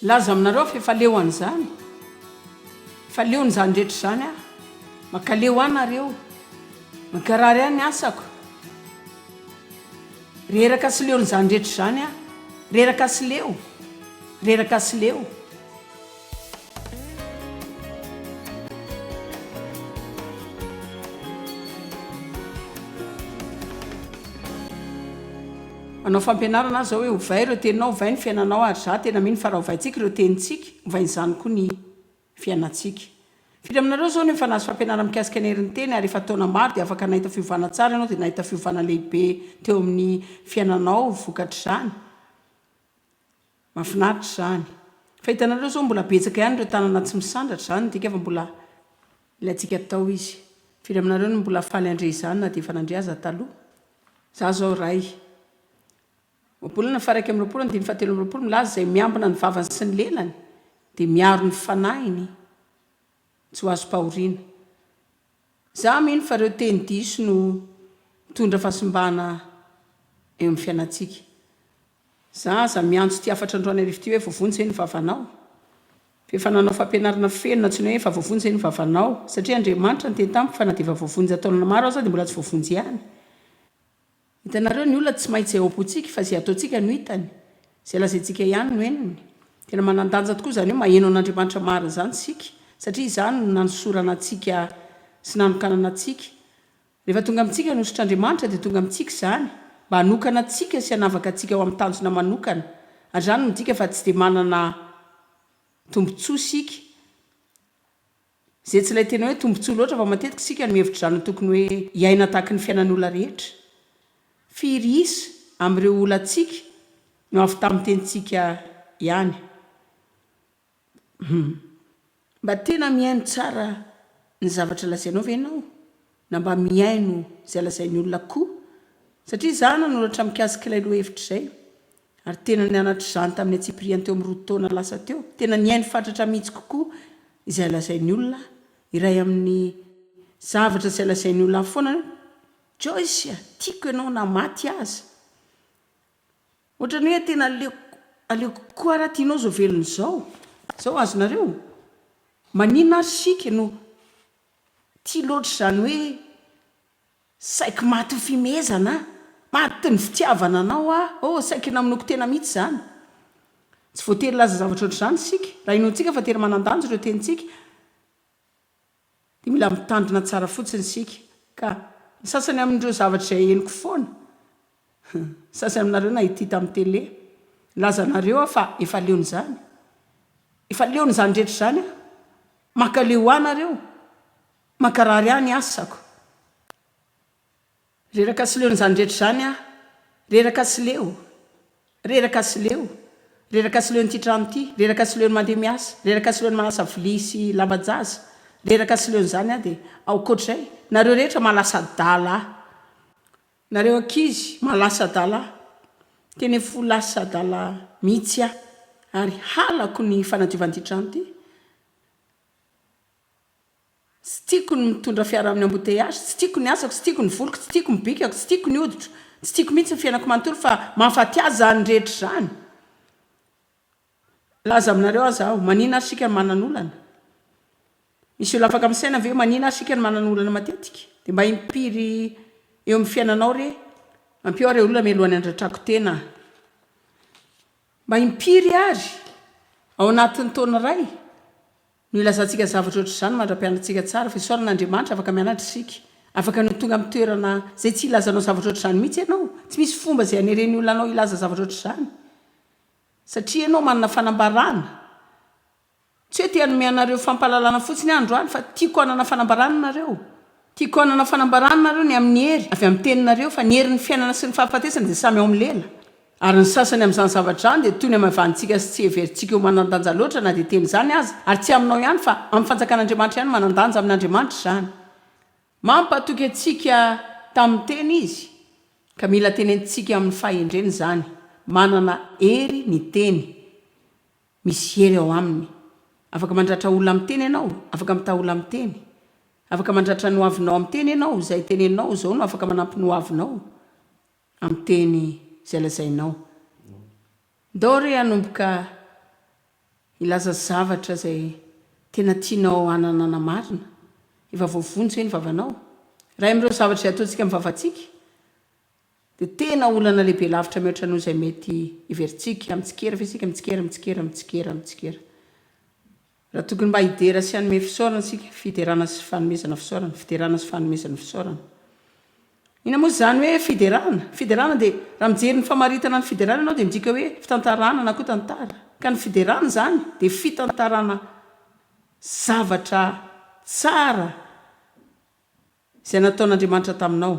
Laza aminareo aho fa efa leo an'izany, efa leon'izany rehetra izany aho. Mankaleo ahy nareo, mankarary ahy ny asako. Reraka sy leon'izany rehetra izany aho, reraka sy leo, reraka sy leo. Manao fampianarana aho izao hoe ovay ireo teninao, ovay ny fiainanao ary izaho tena mino fa raha ovaintsika ireo tenintsika, ovain'izany koa ny fiainantsika. Firy aminareo izao no efa nahazo fampianarana mikasika ny herin'ny teny ary efa taona maro dia afaka nahita fiovana tsara ianao dia nahita fiovana lehibe teo amin'ny fiainanao vokatr'izany? Mafinaritra izany. Fa hitanareo zao mbola betsaka ihany ireo tanana tsy misandratra, izany midika fa mbola ilaintsika atao izy. Firy aminareo no mbola faly handre izany na dia efa nandre aza taloha? Izaho izao ray. Ohabolana faharaika amby roapolo andininy fahatelo amby roapolo milaza izay miambina ny vavany sy ny lelany dia miaro ny fanahiny tsy ho azom-pahoriana. Za mino fa reo teny diso no mitondra fahasimbana eo amin'ny fiainantsika. Za aza miantso ty hafatra androany arivo ty hoe voavonjy ve ny vavanao? F'efa nanao fampianarana feno nantsoina hoe efa voavonjy ve ny vavanao? Satria Andriamanitra niteny tamiko fa na dia efa voavonjy nataon'olona maro aza dia mbola tsy voavonjy ihany. Hitanareo, ny olona tsy maintsy izay ao am-pontsika fa izay ataontsika no hitany, izay lazaintsika ihany no henony. Tena manan-danja tokoa izany hoe maheno an'Andriamanitra marina izany isika, satria izany no nanosorana antsika sy nanokanana antsika. Rehefa tonga amintsika ny hosotr'Andriamanitra dia tonga amintsika izany mba hanokana antsika sy hanavaka antsika ho amin'ny tanjona manokana, ary izany no midika fa tsy dia manana tombontsoa isika. Izay tsy ilay tena hoe tombontsoa loatra fa matetika isika no mihevitra izany ho tokony hoe hiaina tahaky ny fiainan'olona rehetra. Firy isa amin'ireo olantsika no avy tamin'ny tenintsika ihany? Humm. Mba tena mihaino tsara ny zavatra lazainao ve ianao na mba mihaino izay lazain'ny olona koa? Satria izaho nanoratra mikasik'ilay lohahevitra izay. Ary tena nianatra izany tamin'ny antsipiriany teo amin'ny roa taona lasa teo. Tena nihaino fatratra mihitsy kokoa izay lazain'ny olona aho. Iray amin'ny zavatra izay lazain'ny olona ahy foana hoe, Joyce a, tiako ianao na maty aza. Ohatran'ny hoe tena aleoko, aleoko kokoa raha tianao izao velona izao. Izao azonareo? Maninona ary isika no tia loatra izany hoe. Saiky maty ny fimehezana ah! Maty ny fitiavana anao ah! Oh, saiky namonoako tena mihitsy izany! Tsy voatery hilaza zavatra ohatr'izany isika, raha inoantsika fa tena manan-danja ireo tenintsika, dia mila mitandrina tsara fotsiny isika. Ka, ny sasany amin'ireo zavatra izay henoko foana, ny sasany aminareo nahitỳ tamin'ny tele, nilaza anareo aho fa efa leon'izany. Efa leon'izany rehetra izany aho. Mankaleo ahy nareo. Mankarary ahy ny asako. Reraka sy leo n'izany rehetra izany aho. Reraka sy leo. Reraka sy leo. Reraka sy leon'ity trano ity. Reraka sy leon'ny mandeha miasa. Reraka sy leon'ny manasa vilia sy lamban-jaza. Reraka sy leon'izany aho dia aokoatr'izay. Nareo rehetra maha lasa adala ahy. Nareo ankizy maha lasa adala ahy. Tena efa ho lasa adala mihitsy aho. Ary halako ny fanadiovan'ity trano ity. Tsy tiako ny mitondra fiara amin'ny embouteillages, tsy tiako ny asako, tsy tiako ny voliko, tsy tiako ny bikako, tsy tiako ny hoditro, tsy tiako mihitsy ny fiainako manontolo fa mahafaty ahy izany rehetra izany. Laza aminareo aza aho, manina ary isika no manana olana? Misy olona afaka misaina ve manina ary isika no manana olana matetika? Dia mba impiry eo amin'ny fiainanao re? Ampio aho re olona mialohan'ny handratrako tena a! Mba impiry ary ao anatin'ny taona iray? No ilazantsika zavatra ohatr'izany mandra-pianatsika tsara fa isaoran'Andriamanitra afaka mianatra isika. Afaka no tonga amin'ny toerana izay tsy hilazanao zavatra ohatr'izany mihitsy ianao. Tsy misy fomba izay haneren'ny olona anao hilaza zavatra ohatr'izany. Satria ianao manana fanambarana. Tsy hoe te-hanome anareo fampahalalana fotsiny aho androany fa tiako hanana fanambarana nareo. Tiako hanana fanambarana nareo ny amin'ny hery avy amin'ny teninareo fa ny herin'ny fiainana sy ny fahafatesana dia samy ao amin'ny lela. Ary ny sasany amin'izany zavatra izany dia toy ny amaivanintsika sy tsy heverintsika ho manan-danja loatra na dia tena izany aza, ary tsy aminao ihany fa amin'ny fanjakan'Andriamanitra ihany manan-danja amin'Andriamanitra izany. Mampatoky antsika tamin'ny teny izy, ka mila tenentintsika amin'ny fahendrena izany. Manana hery ny teny. Misy hery ao aminy. Afaka mandratra olona amin'ny teny ianao, afaka mitaha olona amin'ny teny. Afaka mandratra ny hoavinao amin'ny teny ianao, izay teneninao izao no afaka manampy ny hoavinao. amin'ny teny izay lazainao. Ndao re hanomboka hilaza zavatra izay tena tianao hananana marina. Efa voavonjy ve ny vavanao? Iray amin'ireo zavatra izay ataontsika amin'ny vavantsika dia tena olana lehibe lavitra mihoatra noho izay mety heverintsika. Mitsikera ve isika? Mitsikera, mitsikera, mitsikera, mitsikera. Raha tokony mba hidera sy hanome fisaorana isika, fiderana sy fanomezana fisaorana, fiderana sy fanomezana fisaorana. Inona moa izany hoe fiderana? Fiderana dia, raha mijery ny famaritana ny fiderana ianao dia midika hoe fitantarana na koa tantara. Ka ny fiderana izany dia fitantarana zavatra tsara Izay nataon'Andriamanitra taminao.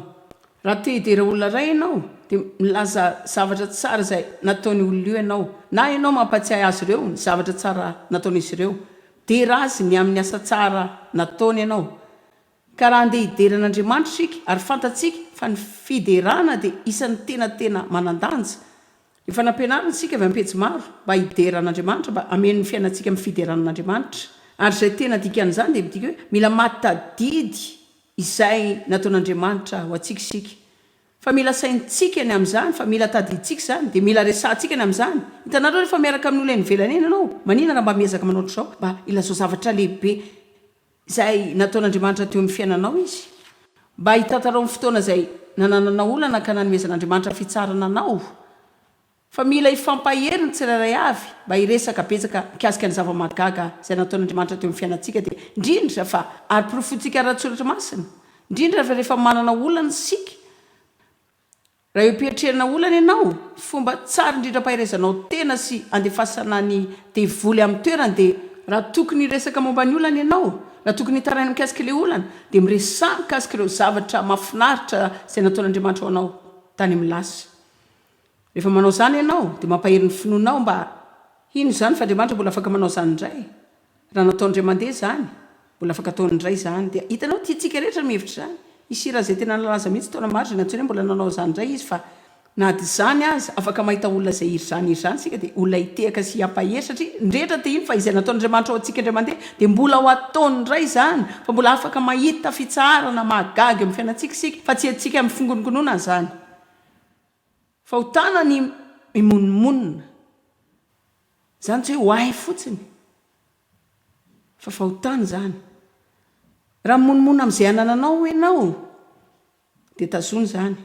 Raha te hidera olona iray ianao, dia milaza zavatra tsara izay nataon'io olona io ianao, na ianao mampatsiahy azy ireo ny zavatra tsara nataon'izy ireo. Midera azy ny amin'ny asa tsara nataony ianao. Ka raha handeha hidera an'Andriamanitra isika, ary fantatsika fa ny fiderana dia isan'ny tena tena manan-danja, Efa nampianarina isika avy ampejy maro mba hidera an'Andriamanitra mba hameno ny fiainantsika amin'ny fiderana an'Andriamanitra ary izay tena dikan'izany dia midika hoe mila matadidy izay nataon'Andriamanitra ho antsika isika fa mila saintsika ny amin'izany fa mila tadidintsika izany dia mila resahantsika ny amin'izany hitanareo rehefa miaraka amin'ny olona any ivelany any ianao manina raha mba miezaka manao ohatr'izao mba ilazao zavatra lehibe izay nataon'Andriamanitra teo amin'ny fiainanao izy, mba hitantarao ny fotoana izay nanananao olana ka nanomezan'Andriamanitra fitsarana anao, fa mila hifampahery ny tsirairay avy mba hiresaka betsaka mikasika ny zava-mahagaga izay nataon'Andriamanitra teo amin'ny fiainantsika dia indrindra fa ary porofointsika ara-tsoratra masina indrindra fa rehefa manana olana isika Raha eo am-piatrehana olana ianao, fomba tsara indrindra ampaherezanao tena sy andefasana ny devoly amin'ny toerany dia, raha tokony hiresaka momba ny olana ianao, na tokony hitaraina mikasika ilay olana, dia miresaha mikasika ireo zavatra mahafinaritra izay nataon'Andriamanitra ho anao tany amin'ny lasa. Rehefa manao izany ianao, dia mampahery ny finoanao mba hino izany fa Andriamanitra mbola afaka manao izany indray. Raha nataondre mande zany, mbola afaka ataony indray zany dia hitanao tiantsika rehetra ny mihevitra izany. I Sira izay tena nalaza mihitsy taona maro izay nantsoina hoe mbola nanao izany indray izy fa na adizany aza afaka mahita olona izay iry zany iry zany isika dia olona hitehaka sy hiampahery satria ny rehetra te hino fa izay nataon'Andriamanitra ho antsika indray mande dia mbola ho ataony indray izany fa mbola afaka mahita fitsaharana mahagaga eo amin'ny fiainantsika isika fa tsy antsika mifingonongonona izany Fahotana ny mimonomonona. Izany tsy hoe ho ahy fotsiny, fa fahotana izany. Raha mimonomonona amin'izay anananao ianao, dia tazony izany.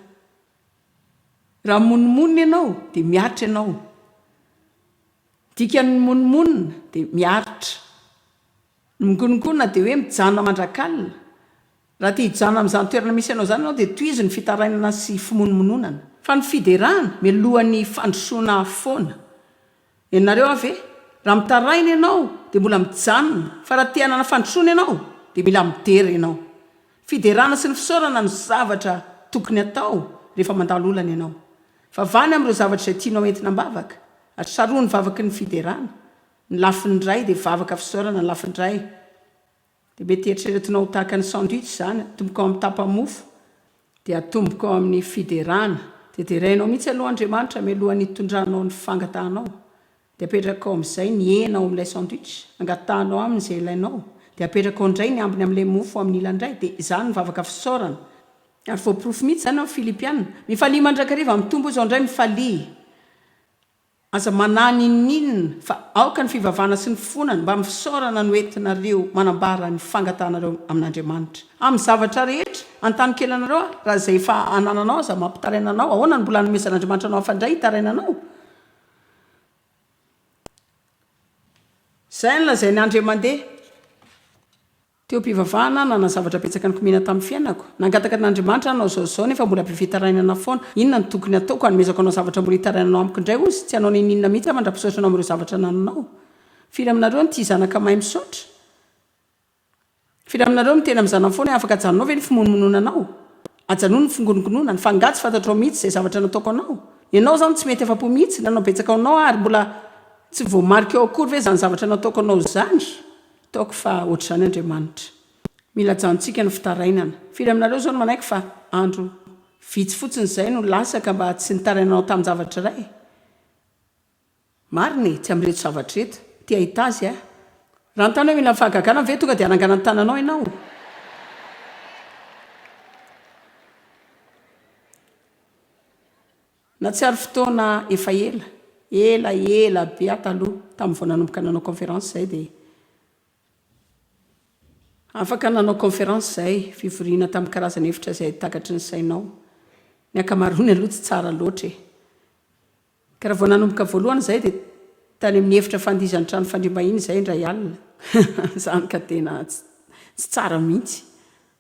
Raha mimonomonona ianao, dia miaritra ianao. Dikan'ny mimonomonona dia miaritra. Ny mingongona dia hoe mijanona mandrak'alina, Raha te hijanona amin'izany toerana misy anao izany ianao dia tohizo ny fitarainana sy fimonomononana. Fa ny fiderana mialohan'ny fandrosoana foana. Henonareo aho ve? Raha mitaraina ianao dia mbola mijanona fa raha te hanana fandrosoana ianao dia mila midera ianao. Fiderana sy ny fisaorana no zavatra tokony hatao rehefa mandalo olana ianao. Vavany amin'ireo zavatra izay tianao entina am-bavaka ary sarohy ny vavaky ny fiderana ny lafiny iray dia vavaka fisaorana ny lafiny iray. Dia mety eritreretinao ho tahaka ny sandwich izany, atomboko ao amin'ny tapa-mofo, dia atomboko ao amin'ny fiderana, dia derainao mihitsy aloha Andriamanitra mialohan'ny hitondranao ny fangatahanao, dia apetrakao amin'izay ny hena ao amin'ilay sandwich, angatahanao Aminy izay ilainao, dia apetrakao indray ny ambiny amin'ilay mofo amin'ny ilany iray, dia izany ny vavaka fisaorana. Ary voaporofo mihitsy izany ao amin'ny Filipiana, Mifalia mandrakariva, mitombo izao indray, mifalia. Aza manahy n'inon'inona fa aoka ny fivavahana sy ny fifonana mba amin'ny fisaorana no entinareo manambara ny fangatahanareo amin'Andriamanitra amin'ny zavatra rehetra antanikelanareo ary raha izay efa anananao aza mampitaraina anao ahoana no mbola hanomezan'Andriamanitra anao hafa indray hitaraina anao? Izay no lazain'i Andriamandeha. Teo am-pivavahana, nanana zavatra betsaka nikomiana tamin'ny fiainako. Nangataka an'Andriamanitra hanao izao sy izao nefa mbola be fitarainana foana. Inona no tokony hataoko? Hanomezako anao zavatra mbola hitarainanao amiko indray ozy? Tsy hanao n'inon'inona mihitsy aho mandra-pisaotra anao amin'ireo zavatra anananao. Firy aminareo no tia zanaka mahay misaotra? Firy aminareo no miteny amin'ny zanany foana hoe, Afaka ajanonao ve ny fimonomonoana anao? Ajanony ny fingonongonona any. Fa angaha tsy fantatrao mihitsy izay zavatra nataoko anao? Ianao izany tsy mety afa-po mihitsy. Nanao betsaka ho anao aho ary mbola tsy voamarika ao akory ve izany zavatra nataoko anao izany? Ataoko fa ohatr'izany Andriamanitra. Mila ajanontsika ny fitarainana. Firy aminareo izao no manaiky fa andro vitsy fotsiny izay no lasa ka mba tsy nitarainanao tamin-javatra iray? Marina e, tsy amin'ireto zavatra ireto. Te hahita azy aho. Raha nitana hoe mila fahagagana ve tonga dia hanangana ny tananao ianao? Nahatsiaro fotoana efa ela, ela ela be aho taloha, tamin'ny vao nanomboka nanao conférence izay dia afaka nanao conférence izay, fivoriana tamin'ny karazana hevitra izay takatry ny sainao. Ny ankamaroany aloha tsy tsara loatra e. Ka raha vao nanomboka voalohany izay dia tany amin'ny efitra fandihizan'ny trano fandriam-bahiny izay indray alina. Izany ka tena tsy tsara mihitsy.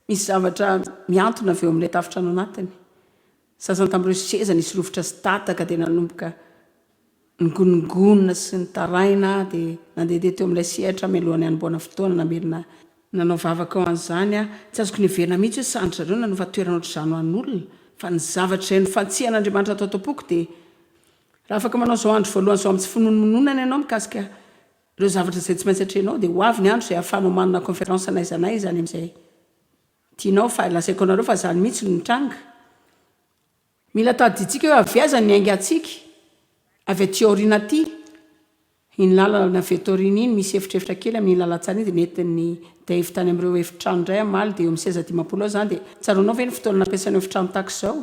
Misy zavatra mihantona avy eo amin'ilay tafontrano anatiny. Sasany tamin'ireo seza nisy rovitra sy tataka dia nanomboka nigonongonona sy nitaraina dia nandehandeha teo amin'ilay sehatra mialohan'ny hanombohana fotoana namerina nanao vavaka ho an'izany aho. Tsy azoko niheverina mihitsy hoe sahan-dry zareo nanova toerana ohatr'izany ho an'olona fa ny zavatra izay nofantsihan'Andriamanitra tao am-poko dia Raha afaka manao izao andro voalohany izao amin'ny tsy finoanomononana ianao mikasika ireo zavatra izay tsy maintsy atrehinao dia ho avy ny andro izay ahafahanao manana kaonferansy na aiza na aiza any amin'izay Tianao fa lazaiko anareo fa zany mihitsy no nitranga. Mila tadidintsika hoe avia aiza ny aingantsika? Avy aty aoriana aty. Iny lalana avy eto aoriana iny misy efitrefitra kely amin'iny lalantsara iny dia nentin'i Dave tany amin'ireo efitrano indray hamaly dia eo amin'ny seza dimampolo eo izany dia tsaroanao ve ny fotoana nampiasainao efitrano tahaka izao?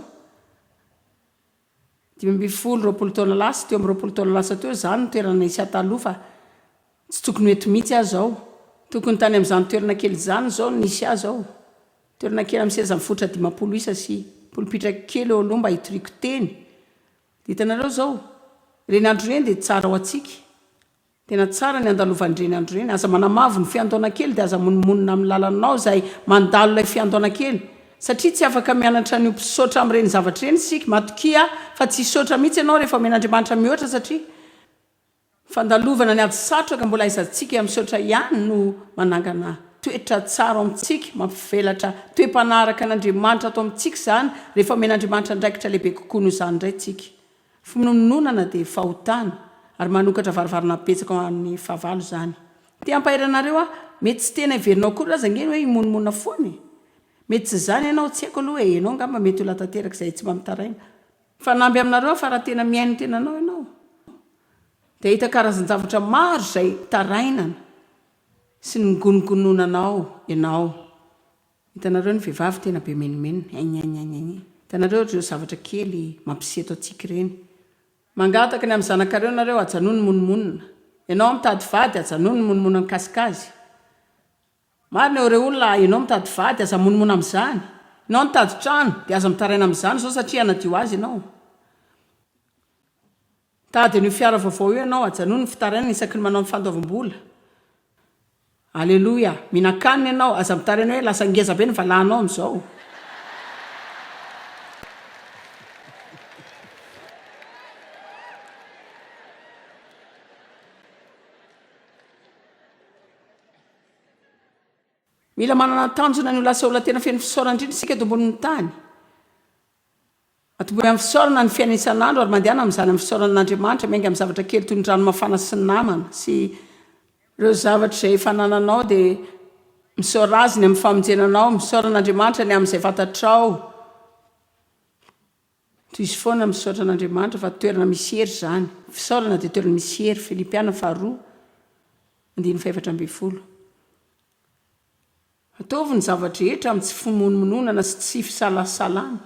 Dimy ambin'ny folo, roapolo taona lasa, teo amin'ny roapolo taona lasa teo izaho no toerana nisy ahataloha fa tsy tokony ho eto mihitsy aho izao. Tokony tany amin'izany toerana kely izany izao no nisy ahy izao. Toerana kely amin'ny seza mifoitra dimampolo isa sy polipitra kely eo aloha mba hitoriako teny. Dia hitanareo izao, ireny andro ireny dia tsara ho antsika Tena tsara ny andalovandreny andro ireny, aza manamavo ny fiandohana kely dia aza monomonona amin'ny lalanao izay mandalo ilay fiandohana kely satria tsy afaka mianatra ny ho mpisaotra amin'ireny zavatra ireny isika, matokia fa tsy hisaotra mihitsy ianao rehefa omena Andriamanitra mihoatra satria fandalovana ny ady satroka mbola aizantsika misaotra ihany no manangana toetra tsara ao amintsika, mampivelatra toe-panahy araka an'Andriamanitra ato amintsika izany rehefa omen'Andriamanitra andraikitra lehibe kokoa noho izany indray isika. Fimonomononana dia fahotana ary manokatra varavarana betsaka ho an'ny fahavalo izany. Te hampahery anareo aho, mety tsy tena heverinao akory aza ange ny hoe himonomonona foana e! Mety tsy izany ianao, tsy haiko aloha e, ianao angamba mety olona tanteraka izay tsy mba mitaraina. Fanamby aminareo aho fa raha tena mihaino ny tenanao ianao dia hahita karazan-javatra maro izay tarainana sy nogonogononanao ianao. Hitanareo ny vehivavy tena be menomenona egny egny egny egny hitanareo ry reo zavatra kely mampisy eto antsika ireny. Mangataka ny amin'ny zanakareo nareo ajanony ny monomonona. Ianao mitady vady ajanony ny monomona mikasika azy. Marina eo re olona a, ianao mitady vady aza monomona amin'izany. Ianao nitady trano dia aza mitaraina amin'izany izao satria hanadio azy ianao. Mitady an'io fiara vaovao io ianao, ajanony ny fitarainana isaky ny manao ny fandoavam-bola. Aleloia! Mihinan-kanina ianao, aza mitaraina hoe lasa ngeza be ny valahanao amin'izao. Mila manana tanjona ny ho lasa olona tena feno fisaorana indrindra isika eto ambonin'ny tany. Atomboy amin'ny fisaorana ny fiainana isan'andro ary mandehana amin'izany amin'ny fisaorana an'Andriamanitra miainga amin'ny zavatra kely toy ny rano mafana sy ny namana sy ireo zavatra izay efa anananao dia misaora Azy ny amin'ny famonjena anao, misaora an'Andriamanitra ny amin'izay fantatrao, tohizo foana misaotra an'Andriamanitra fa toerana misy hery izany, ny fisaorana dia toerana misy hery, Filipiana faharoa andininy fahefatra ambin'ny folo. Ataovy ny zava-drehetra amin'ny tsy fimonomononana sy tsy fisalasalana.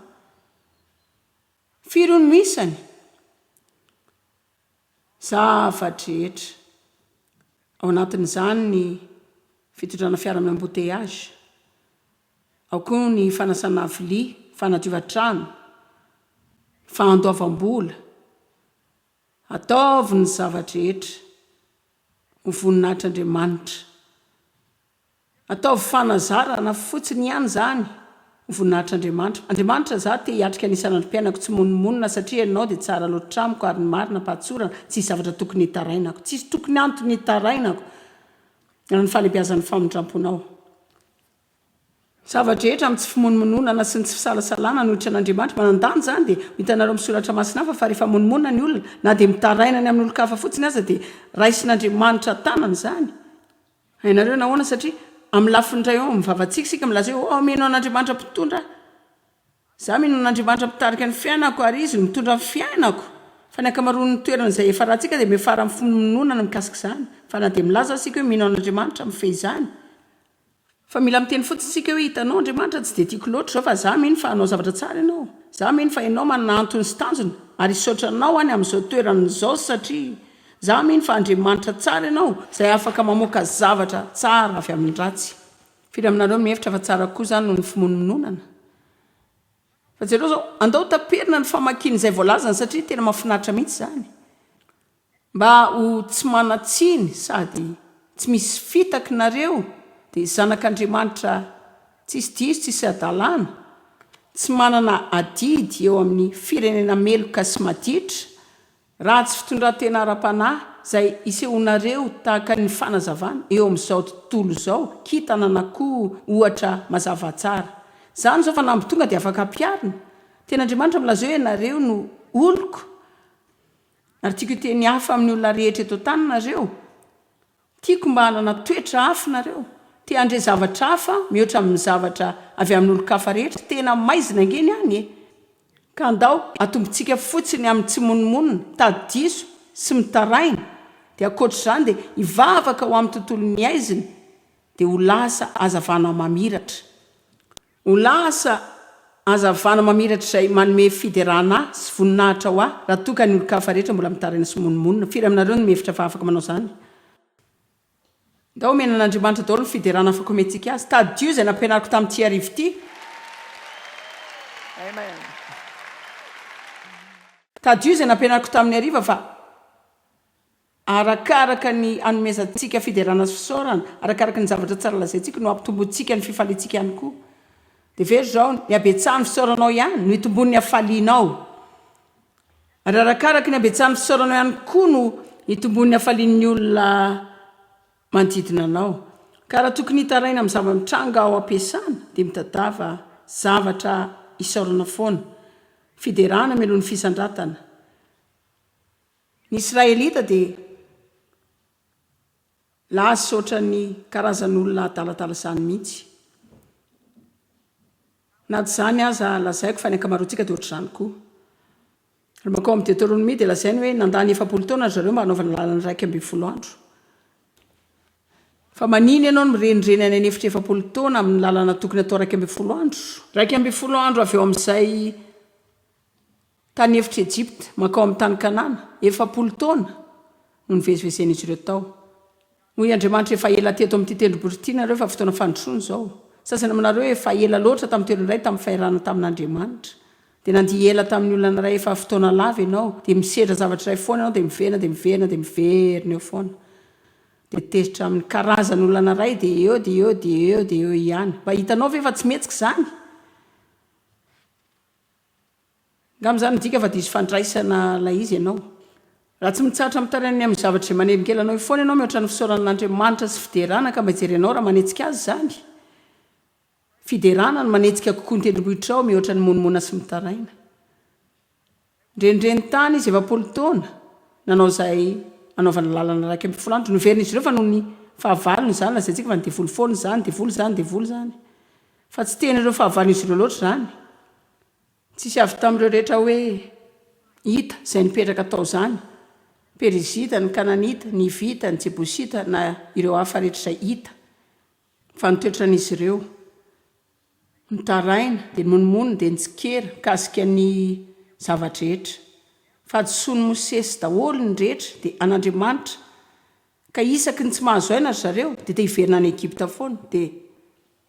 Firy hono no isany? Zava-drehetra. Ao anatin'izany ny fitondrana fiara amin'ny embouteillages, ao koa ny fanasana vilia, fanadiovan-trano, fandoavam-bola. Ataovy ny zava-drehetra ho voninahitr'Andriamanitra. Ataovy fanazarana fotsiny ihany izany, ho voninahitr'Andriamanitra. Andriamanitra, izaho te hiatrika ny isan'androm-piainako tsy monomonona satria Ianao dia tsara loatra amiko ary ny marina am-pahatsorana tsisy zavatra tokony hitarainako, tsisy tokony antony hitarainako raha ny fahalebiazan'ny famindram-ponao. Zava-drehetra amin'ny tsy fimonomononana sy ny tsy fisalasalana no hiditra an'Andriamanitra. Manan-danja izany dia ho hitanareo amin'ny soratra masina hafa fa rehefa monomonona ny olona na dia mitaraina ny amin'olon-kafa fotsiny aza dia raisin'Andriamanitra an-tanana izany. Hainareo nahoana? Satria amin'ny lafiny iray ao amin'ny vavantsika isika milaza hoe, Aho mino an'Andriamanitra Mpitondra ahy. Izaho mino an'Andriamanitra Mpitarika ny fiainako, ary Izy no mitondra ny fiainako. Fa ny ankamaroan'ny toerana izay hiafarantsika dia miafara amin'ny finoanoana ny mikasika izany. Fa na dia milaza aza isika hoe mino an'Andriamanitra, mifehy izany. Fa mila miteny fotsiny isika hoe, Hitanao, Andriamanitra, tsy dia tiako loatra izao, fa izaho mino fa hanao zavatra tsara Ianao. Izaho mino fa Ianao manana antony sy tanjona, ary hisaotra Anao aho ny amin'izao toerana izao, satria Za mino fa Andriamanitra tsara ianao izay afaka mamoaka zavatra tsara avy amin'ny ratsy. Firy aminareo no mihevitra fa tsara kokoa izany noho ny fimonomononana? Fa jereo izao, andao taperina ny famakiana izay voalazany satria tena mahafinaritra mihitsy izany. Mba ho tsy manan-tsiny sady tsy misy fitaky nareo dia zanak'Andriamanitra tsisy diso tsisy hadalana, tsy manana adidy eo amin'ny firenena meloka sy maditra Ratsy fitondran-tena ara-panahy izay isehoanareo tahaka ny fanazavana eo amin'izao tontolo izao kintana na koa ohatra mazava tsara. Izany izao fanamby tonga dia afaka ampiharina. Tena Andriamanitra milaza hoe ianareo no oloko ary tiako hiteny hafa amin'ny olona rehetra eto an-tany nareo. Tiako mba hanana toetra hafa ianareo, te handre zavatra hafa mihoatra amin'ny zavatra avy amin'olon-kafa rehetra, tena maizina ange ny any e! Ka andao atombontsika fotsiny amin'ny tsy monomonona, mitady diso sy mitaraina, dia ankoatr'izany dia hivavaka ho amin'ny tontolo mihaizina, dia ho lasa hazavana mamiratra. O lasa hazavana mamiratra izay manome fiderana ahy sy voninahitra ho ahy raha toa ka ny olon-kafa rehetra mbola mitaraina sy mimonomonona. Firy aminareo no mihevitra fa afaka manao izany? Ndao omena an'Andriamanitra daholo ny fiderana afaka omentsika Azy. Tadidio izay nampianariko tamin'ity hariva ity. Tadidio izay nampianariko tamin'ny hariva fa. Arakaraka ny hanomezantsika fiderana sy fisaorana, arakaraka ny zavatra tsara lazaintsika no hampitombointsika ny fifaliantsika ihany koa. Dia very izao, ny habetsahan'ny fisaoranao ihany no hitomboan'ny hafalianao. Ary arakaraka ny habetsahan'ny fisaoranao ihany koa no hitomboan'ny hafalian'ny olona manodidina anao. Ka raha tokony hitaraina amin'ny zava-mitranga ao am-piasana dia mitadiava zavatra hisaorana foana. Fiderana mialoha ny fisandratana. Ny Israelita dia laza ohatran'ny karazan'olona adaladala izany mihitsy. Na tsy izany aza, lazaiko fa ny ankamaroantsika dia ohatr'izany koa. Raha mankao amin'ny Deteronomia dia lazainy hoe nandany efapolo taona ry zareo mba hanaovana lalana iraika ambin'ny folo andro. Fa manina ianao no mirenireny any an'efitra efapolo taona amin'ny lalana tokony hatao iraika ambin'ny folo andro? Iraika ambin'ny folo andro avy eo amin'izay Tany efitra Ejipta mankao amin'ny tany Kanana, efapolo taona no nivezivezen'izy ireo tao. Hoy Andriamanitra, Efa ela teto amin'ity tendrombohitra ity ianareo, efa fotoana fandrosoana izao. Ny sasany aminareo efa ela loatra tamin'ny toerana iray, tamin'ny fahirana tamin'Andriamanitra. Dia nandihy ela tamin'ny olana iray efa fotoana lava ianao, dia misedra zavatra iray foana ianao, dia miverina, dia miverina, dia miverina eo foana. Dia tezitra amin'ny karazan'olana iray, dia eo, dia eo, dia eo, dia eo ihany. Mba hitanao ve fa tsy mihetsika izany? Angamba izany midika fa diso fandraisana ilay izy ianao. Raha tsy mitsahatra mitaraina ny amin'ny zavatra izay manelingelina anao eo foana ianao mihoatra ny fisaorana an'Andriamanitra sy fiderana, angamba hijery anao raha manetsika Azy izany. Fiderana no manetsika kokoa ny tendrombohitrao mihoatra ny mimonomonona sy mitaraina. Nirenireniny tany izy efapolo taona, nanao izay anaovana lalana iraika ambin'ny folo andro. Noverin'izy ireo fa noho ny fahavalony izany, lazaintsika fa ny devoly foana izany, devoly izany, devoly izany. Fa tsy tena ireo fahavalon'izy ireo loatra izany. Tsisy avy tamin'ireo rehetra hoe Hita, izay nipetraka tao izany, ny Perizita, ny Kananita, ny Hivita, ny Jebosita, na ireo hafa rehetra izay hita. Fa ny toetran'izy ireo. Nitaraina, dia nomonomonony, dia nitsikera, mikasika ny zava-drehetra. Fahadisoan'i Mosesy daholo ny rehetra, dia an'Andriamanitra. Ka isaky ny tsy mahazo aina ry zareo, dia te hiverina any Egypta foana. Dia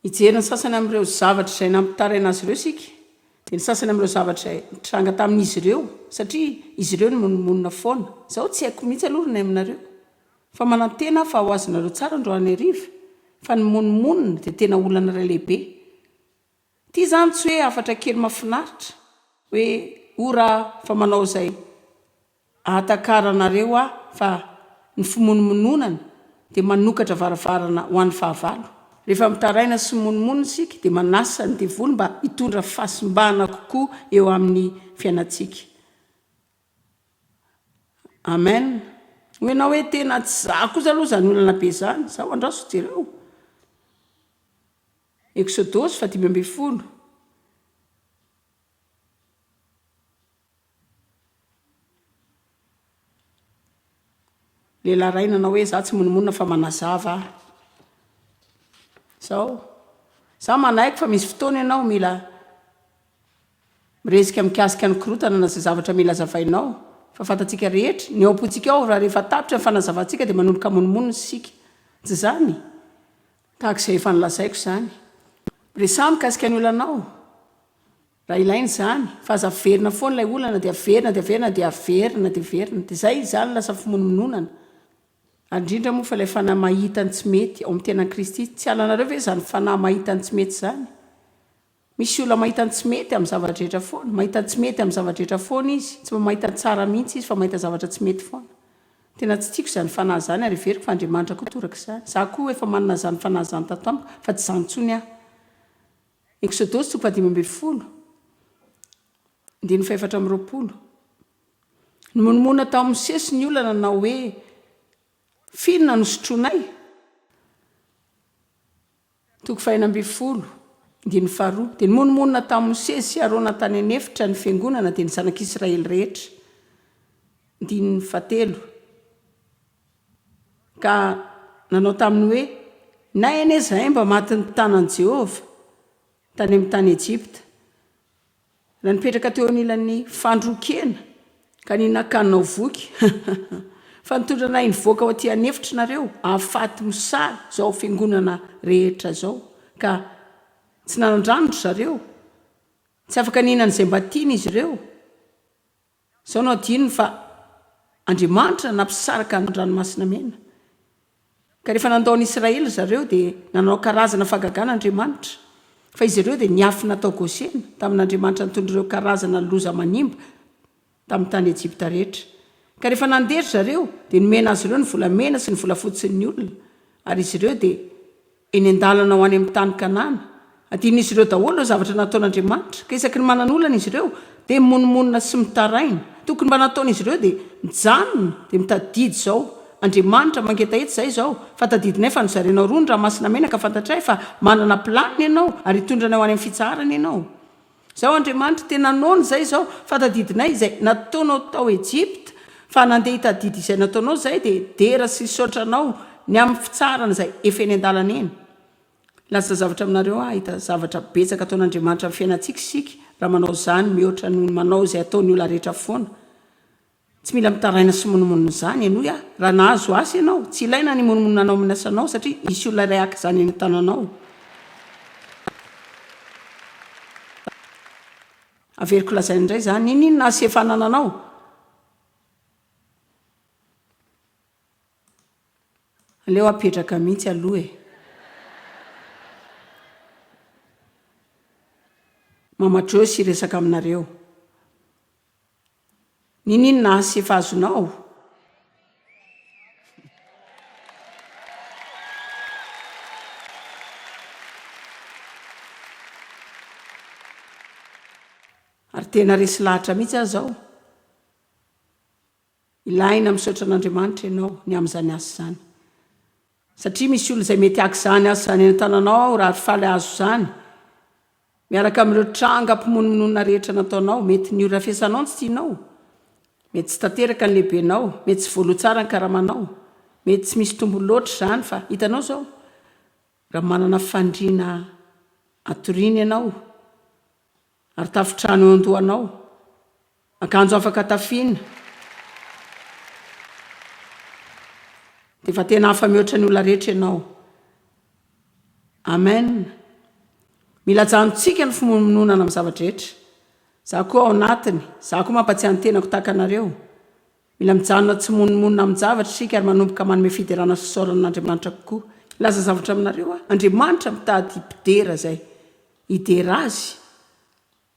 hijery ny sasany amin'ireo zavatra izay nampitaraina azy ireo isika. Dia ny sasany amin'ireo zavatra izay nitranga tamin'izy ireo, satria izy ireo nimonomonona foana. Izao tsy haiko mihitsy aloha ry nay aminareo. Fa manantena aho fa ho azonareo tsara androany hariva, fa ny mimonomonona dia tena olana iray lehibe. Ty zany tsy hoe hafatra kely mafinaritra hoe o ra fa manao zay ahatakaranareo aho fa ny fimonomononana de manokatra varavarana ho any fahavalo. Refa mitaraina sy mimonomono isika de manasa ny devoly mba hitondra fahasimbana kokoa eo aminy fiainatsika. Amen. Hoy enao hoe tena tsy za kosa aloha zany olana be zany, zaho andraso jereo. Eksodosy faha dimy ambin'ny folo, Lehilahy iray nanao hoe, Izaho tsy monomonona fa manazava aho. Izao, izaho manaiky fa misy fotoana ianao mila miresaka mikasika ny korotana na izay zavatra mila hazavainao. Fa fantatsika rehetra, ny ao am-pontsika ao, raha rehefa tapitra ny fanazavantsika dia manomboka monomonona isika. Tsy izany? Tahaka izay efa nolazaiko izany, miresaha mikasika ny olanao raha ilaina izany, fa aza averina foana ilay olana dia averina dia averina dia averina dia averina, dia izay izany lasa fimonomononana, ary indrindra moa fa ilay fanahy mahita ny tsy mety ao amin'ny tenan'i Kristy, tsy halanareo ve izany fanahy mahita ny tsy mety izany? Misy olona mahita ny tsy mety amin'ny zava-drehetra foana. Mahita ny tsy mety amin'ny zava-drehetra foana izy. Tsy mba mahita ny tsara mihitsy izy fa mahita zavatra tsy mety foana. Tena tsy tiako izany fanahy izany ary heveriko fa Andriamanitra koa toraka izany. Izaho koa efa manana izany fanahy izany tato amiko fa tsy izany intsony aho. Eksodosy toko fahadimy ambin'ny folo, andininy fahefatra amby roapolo. Nimonomonona tao amin'ny sesy ny olona nanao hoe, F'inona no sotroinay? Toko faheno ambin'ny folo, andininy faharoa, Dia nimonomonona tamin'i Mosesy sy Arona tany an'efitra ny fiangonana dia ny zanak'Israely rehetra. Andininy fahatelo, Ka nanao taminy hoe, Na anie izahay mba matin'ny tanan'i Jehovah tany amin'ny tany Ejipta, Raha nipetraka teo anilan'ny fandrokeana ka ny nakanao voky fa nitondra anay nivoaka ao aty an'efitry nareo afaty mosary zao fiangonana rehetra zao ka tsy nanan-drano ry zareo, tsy afaka nihinan'izay mba tiany izy ireo. Sao nohadinony fa Andriamanitra nampisaraka ny Ranomasina Mena. Ka rehefa nandao ny Israely ry zareo dia nanao karazana fahagagana Andriamanitra. Fa izy ireo dia niafina tao Gosena, tamin'Andriamanitra nitondra ireo karazana loza manimba tamin'ny tany Ejipta rehetra. Ka rehefa nandeha ry zareo dia nomena azy ireo ny volamena sy ny volafotsy ny olona, ary izy ireo dia Eny an-dalana ho any amin'ny tany Kanana. Adinon'izy ireo daholo ireo zavatra nataon'Andriamanitra, ka isaky ny manan'olana izy ireo, dia mimonomonona sy mitaraina. Tokony mba nataon'izy ireo dia mijanona, dia mitadidy izao, Andriamanitra, mangetaheta izahay izao, fa tadidinay fa nozarainao roa ny ranomasina mena, ka fantatray fa manana planiny Ianao, ary hitondra anay ho any amin'ny fitsaharana Ianao. Izao Andriamanitra tena noana izay izao fa tadidinay izay nataonao tao Egypta fa nandeha hitadidy izay nataonao izay dia dera sy nisaotra anao ny amin'ny fitsarana izay efa eny an-dalana eny. Laza zavatra aminareo aho ahita zavatra betsaka ataon'Andriamanitra amin'ny fiainantsika isika raha manao izany mihoatra noho ny manao izay ataon'ny olona rehetra foana. Tsy mila mitaraina sy mimonomonona izany henoy aho raha nahazo asa ianao, tsy ilaina ny himonomonona anao amin'ny asanao satria hisy olona iray haka izany eny an-tananao. Averiko lazaina indray izany, ninoninona asa efa anananao? Aleo apetraka mihitsy aloha e! Mama Joyce hiresaka aminareo. Ninin azy sy efa azonao? Ary tena resy lahatra mihitsy aho izao. Ilaina misaotra an'Andriamanitra ianao ny amin'izany asa izany. satria misy olona izay mety haka izany asa any an-tananao raha ry faly hahazo izany, miaraka amin'ireo trangam-pimonomonona rehetra nataonao, mety ny horafesanao no tsy tianao, mety tsy tanteraka ny lehibenao, mety tsy voaloa tsara ny karamanao, mety tsy misy tombony loatra izany fa hitanao izao, raha manana fandriana hatoriana ianao ary tafontrano eo an-dohanao, Akanjo afaka tafiana. Dia efa tena hafa mihoatra ny olona rehetra ianao. Amen. Mila ajanontsika ny fimonomononana amin'ny zava-drehetra. Izaho koa ao anatiny. Izaho koa mampatsiahy ny tenako tahaka anareo. Mila mijanona tsy mimonomonona amin-javatra isika ary manomboka manome fiderana sy fisaorana an'Andriamanitra kokoa. Hilaza zavatra aminareo aho. Andriamanitra mitady mpidera izay hidera Azy.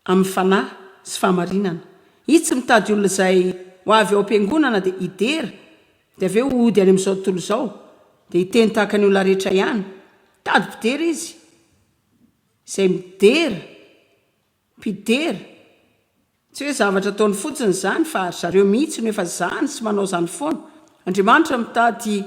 amin'ny fanahy sy fahamarinana. Izy tsy mitady olona izay ho avy ao am-piangonana dia hidera, dia avy eo hody any amin'izao tontolo izao, dia hiteny tahaka ny olona rehetra ihany. Mitady mpidera Izy, izay midera, mpidera. Tsy hoe zavatra ataony fotsiny izany, fa ry zareo mihitsy no efa izany sy manao izany foana. Andriamanitra mitady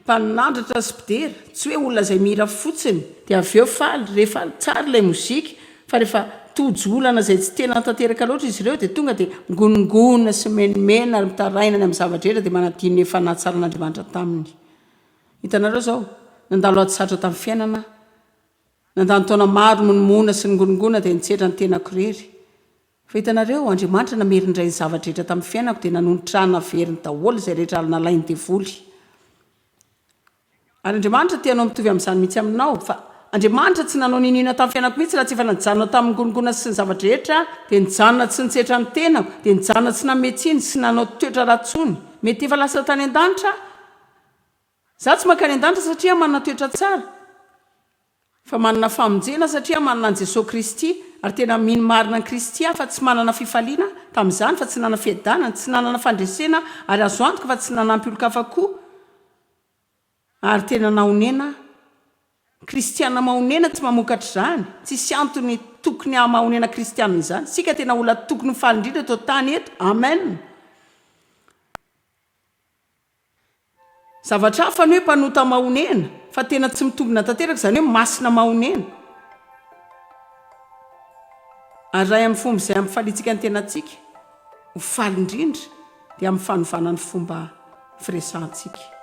Mpanandratra sy mpidera, tsy hoe olona izay mihira fotsiny dia avy eo faly, re faly, tsara ilay mozika, fa rehefa tojo olana izay tsy tena tanteraka loatra izy ireo dia tonga dia migonongonona sy mimenimena ary mitaraina any amin'ny zava-drehetra dia manadino ny efa nahatsaran'Andriamanitra taminy. Hitanareo izao, nandalo ady sarotra tamin'ny fiainana aho. Nandany taona maro nimonomonoana sy ningonongona dia nitsedra ny tenako irery. Fa hitanareo, Andriamanitra namery indray ny zava-drehetra tamin'ny fiainako, dia nanonitra ahy naveriny daholo izay rehetra nalain'ny devoly. Ary Andriamanitra te hanao mitovy amin'izany mihitsy aminao. Fa Andriamanitra tsy nanao n'inoinona tamin'ny fiainako mihitsy raha tsy efa najanona tamin'ny ngonongona sy ny zava-drehetra, dia nijanona tsy nitsetra ny tenako, dia nijanona tsy nanome tsiny sy nanao toetra ratsy tsony. Mety efa lasa tany an-danitra aho. Za tsy mankany an-danitra satria aho manana toetra tsara, fa manana famonjena satria aho manana an'i Jesoa Kristy, ary tena mino marina an'i Kristy aho fa tsy manana fifaliana tamin'izany fa tsy nanana fiadanana, tsy nanana fandresena ary azo antoka fa tsy nanampy olon-kafa koa ary tena nahonena aho. Kristiana mahonena tsy mamokatra izany, tsisy antony tokony hahamahonena Kristiana izany. Isika tena olona tokony ho faly indrindra eto an-tany eto. Amen. Zavatra hafa ny hoe mpanota mahonena fa tena tsy mitombina tanteraka izany hoe masina mahonena. Ary iray amin'ny fomba izay hampifaliantsika ny tenantsika ho faly indrindra dia amin'ny fanovana ny fomba firesahantsika.